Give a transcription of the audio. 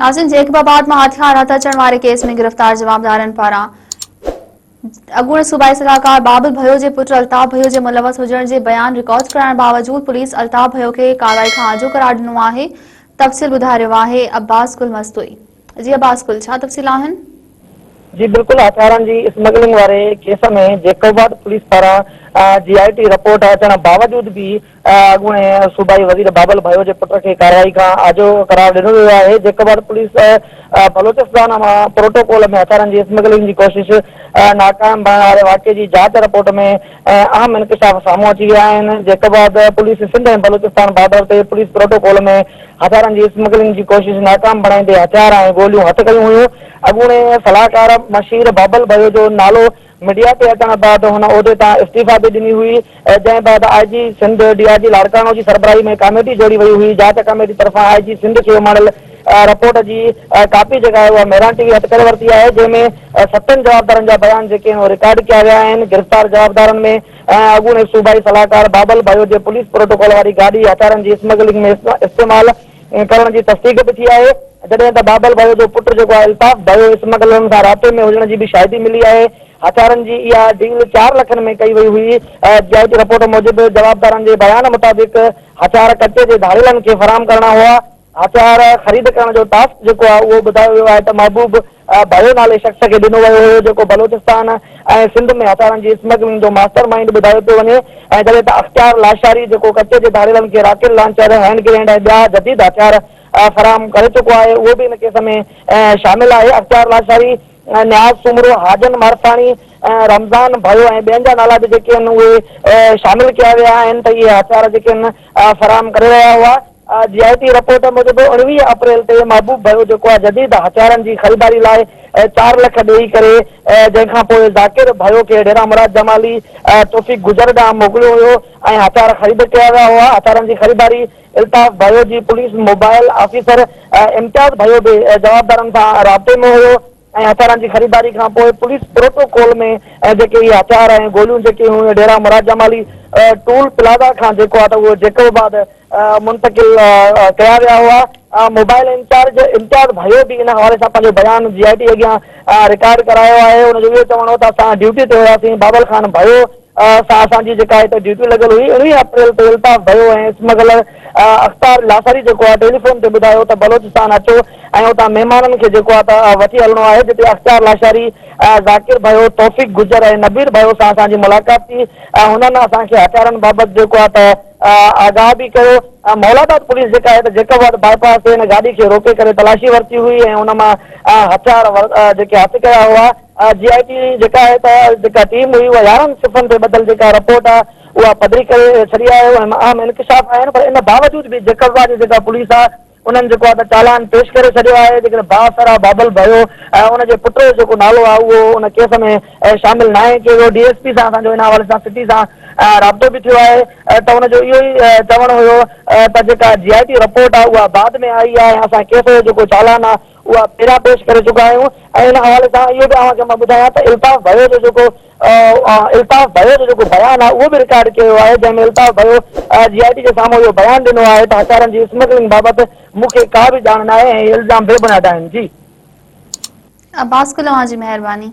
ناظرين جيڪب آباد مان هٿيار هٿ اچڻ واري ڪيس ۾ گرفتار جوابدارن پاران اڳوڻي صوبائي صلاحڪار بابل ڀيو جي پٽ الطاف ڀيو جي ملوث هجڻ جي بيان رڪارڊ ڪرائڻ باوجود پوليس الطاف ڀيو کي ڪارروائي کان آجو قرار ڏنو آهي تفصيل ٻڌارهيو آهي عباس گل مستوئي جي عباس گل ڇا تفصيل آهن جي بلڪل هٿيارن جي اسمگلنگ واري ڪيس ۾ جيڪوباڊ پوليس پاران جي آء ٽي رپورٽ اچڻ باوجود به اڳوڻي صوبائي وزير بابل ڀايو جي پٽ کي ڪارروائي کان آجو قرار ڏنو ويو آهي جيڪوباڊ پوليس بلوچستان مان پروٽوڪول ۾ هٿيارن جي اسمگلنگ جي ڪوشش ناڪام بڻڻ واري واقعي جي جاچ رپورٽ ۾ ۽ اهم انڪشاف سامهون اچي ويا آهن، جنهن کانبعد پوليس سنڌ ۽ بلوچستان بارڊر تي پوليس پروٽوڪول ۾ هٿيارن جي اسمگلنگ جي ڪوشش ناڪام بڻائيندي هٿيار ۽ گوليون هٿ ڪيون هيون، اڳوڻي صلاحڪار مشير بابل ڀيو جو نالو ميڊيا تي اچڻ بعد هن عهدي تان استعيفا به ڏني هئي، جنهن بعد آء جي سنڌ ڊي آء جي لاڙڪاڻو جي سربراهي ۾ ڪاميٽي جوڙي وئي هئي، جاچ ڪاميٽي طرفان آء جي سنڌ کي اماڻيل رپورٽ جي ڪاپي جيڪا آهي اها مهراڻ ٽي وي هٿ ڪري ورتي آهي جنهن ۾ ستن جوابدارن جا بيان جيڪي آهن اهي رڪارڊ ڪيا ويا آهن گرفتار جوابدارن ۾ اڳوڻي صوبائي صلاحڪار بابل ڀايو جي پوليس پروٽوڪول واري گاڏي هٿيارن جي اسمگلنگ ۾ استعمال ڪرڻ جي تصديق به ٿي آهي جڏهن ته بابل ڀايو جو پٽ جيڪو آهي الطاف ڀايو اسمگلرن سان رابطي ۾ هجڻ جي به شاهدي ملي آهي هٿيارن جي اها ڊيل چار لکن ۾ ڪئي وئي هئي جي آء جي رپورٽ موجب جوابدارن جي بيان مطابق هٿيار ڪچي جي ڌاڙيلن کي فراهم ڪرڻا هئا هٿيار خريد ڪرڻ جو ٽاسڪ جيڪو آهي اهو ٻڌايو ويو آهي ته محبوب ڀيو نالي شخص کي ڏنو ويو هيو جيڪو بلوچستان ۽ سنڌ ۾ هٿيارن جي اسمگلنگ جو ماسٽر مائينڊ ٻڌايو پيو وڃي ۽ جڏهن ته اختيار لاشاري جيڪو ڪچي جي ڌاڙيلن کي راڪيل لانچر، هينڊ گرينيڊ ۽ ٻيا جديد هٿيار فراهم ڪري چڪو آهي اهو به ان ڪيس ۾ شامل آهي اختيار لاشاري، نياز سومرو، حاجن مارساڻي، رمضان ڀيو ۽ ٻين جا نالا به جيڪي آهن اهي شامل ڪيا ويا آهن ته اهي هٿيار جيڪي آهن فراهم ڪري رهيا هئا. آء جي آء ٽي رپورٽ موجب اوڻويهه اپريل تي محبوب ڀيو جيڪو آء جديد هٿيارن جي خريداري لاء چار لک ڏيئي ڪري جنهن کان پوء ذاڪر ڀيو کي ڍيرا مراد جمالي توفيق گجر ڏانهن موڪليو ويو ۽ هٿيار خريد ڪيا ويا هئا هٿيارن جي خريداري الطاف ڀيو جي police mobile officer Imtiaz Bhayo به جوابدارن سان رابطي ۾ هيو ۽ هٿيارن جي خريداري کان پوء پوليس پروٽوڪول ۾ جيڪي اهي هٿيار ۽ گوليون جيڪي هيون اهي ڍيرا مراد جمالي ٽول پلازا کان جيڪو آهي ته اهو جيڪب آباد منتقل ڪيا ويا هئا. موبائل انچارج امتياز ڀائيو به ان حوالي سان پنهنجو بيان جي آء ٽي اڳيان رڪارڊ ڪرايو آهي ان جو اهو چوڻ هو ته اسان ڊيوٽي تي هياسين بابل خان ڀائيو سان اسان جي جيڪا هتي ڊيوٽي لڳل هئي ارڙهن اپريل تي الطاف ڀيو ۽ اسمگلر اختار لاثاري جيڪو آهي ٽيلي فون تي ٻڌايو ته بلوچستان اچو ۽ اتان مهمانن کي جيڪو آهي ته وٺي هلڻو آهي جتي اختيار لاشاري ذاڪر ڀيو توفيق گجر ۽ نبير ڀيو سان اسان جي ملاقات ٿي هنن اسان کي هٿيارن بابت جيڪو آهي ته آگاهه به ڪيو مولاباد پوليس جيڪا آهي ته جيڪب آباد باء پاس تي هن گاڏي کي روڪي ڪري تلاشي ورتي هئي ۽ ان مان هٿيار جيڪي هٿ ڪيا هئا. آء جي آء ٽي جيڪا آهي ته جيڪا ٽيم هئي اها يارهن صفحن تي ٻڌل جيڪا رپورٽ آهي اها پڌري ڪري ڇڏي آهي ان ۾ اهم انڪشاف آهن پر ان باوجود به جيڪبزا جي جيڪا پوليس آهي انهن جيڪو آهي ته چالان پيش ڪري ڇڏيو آهي جيڪڏهن بااثر آهي بابل ڀيو ۽ ان جي پٽ جو جيڪو نالو آهي اهو ان ڪيس ۾ شامل ناهي ڪيو ويو ڊي ايس پي سان اسان جو ان حوالي سان سٽي سان رابطو به ٿيو آهي ته ان جو اهو ئي چوڻ هيو ته جيڪا جي آء ٽي رپورٽ آهي اها بعد ۾ آئي آهي ۽ اسان ڪيس جو جيڪو چالان آهي اها ڀيرا پيش ڪري چڪا آهيون ۽ ان حوالي سان اهو به اوهان کي مان ٻڌايان ته الطاف ڀيو جو جيڪو الطاف ڀيو جو جيڪو بيان آهي اهو به رڪارڊ ڪيو ويو آهي جنهن ۾ الطاف ڀيو جي آء ٽي جي سامهون اهو بيان ڏنو آهي ته هٿيارن جي اسمگلنگ بابت مون کي ڪا به ڄاڻ ناهي ۽ اهي الزام بي بنياد آهن جي عباس گل اوهان جي مهرباني.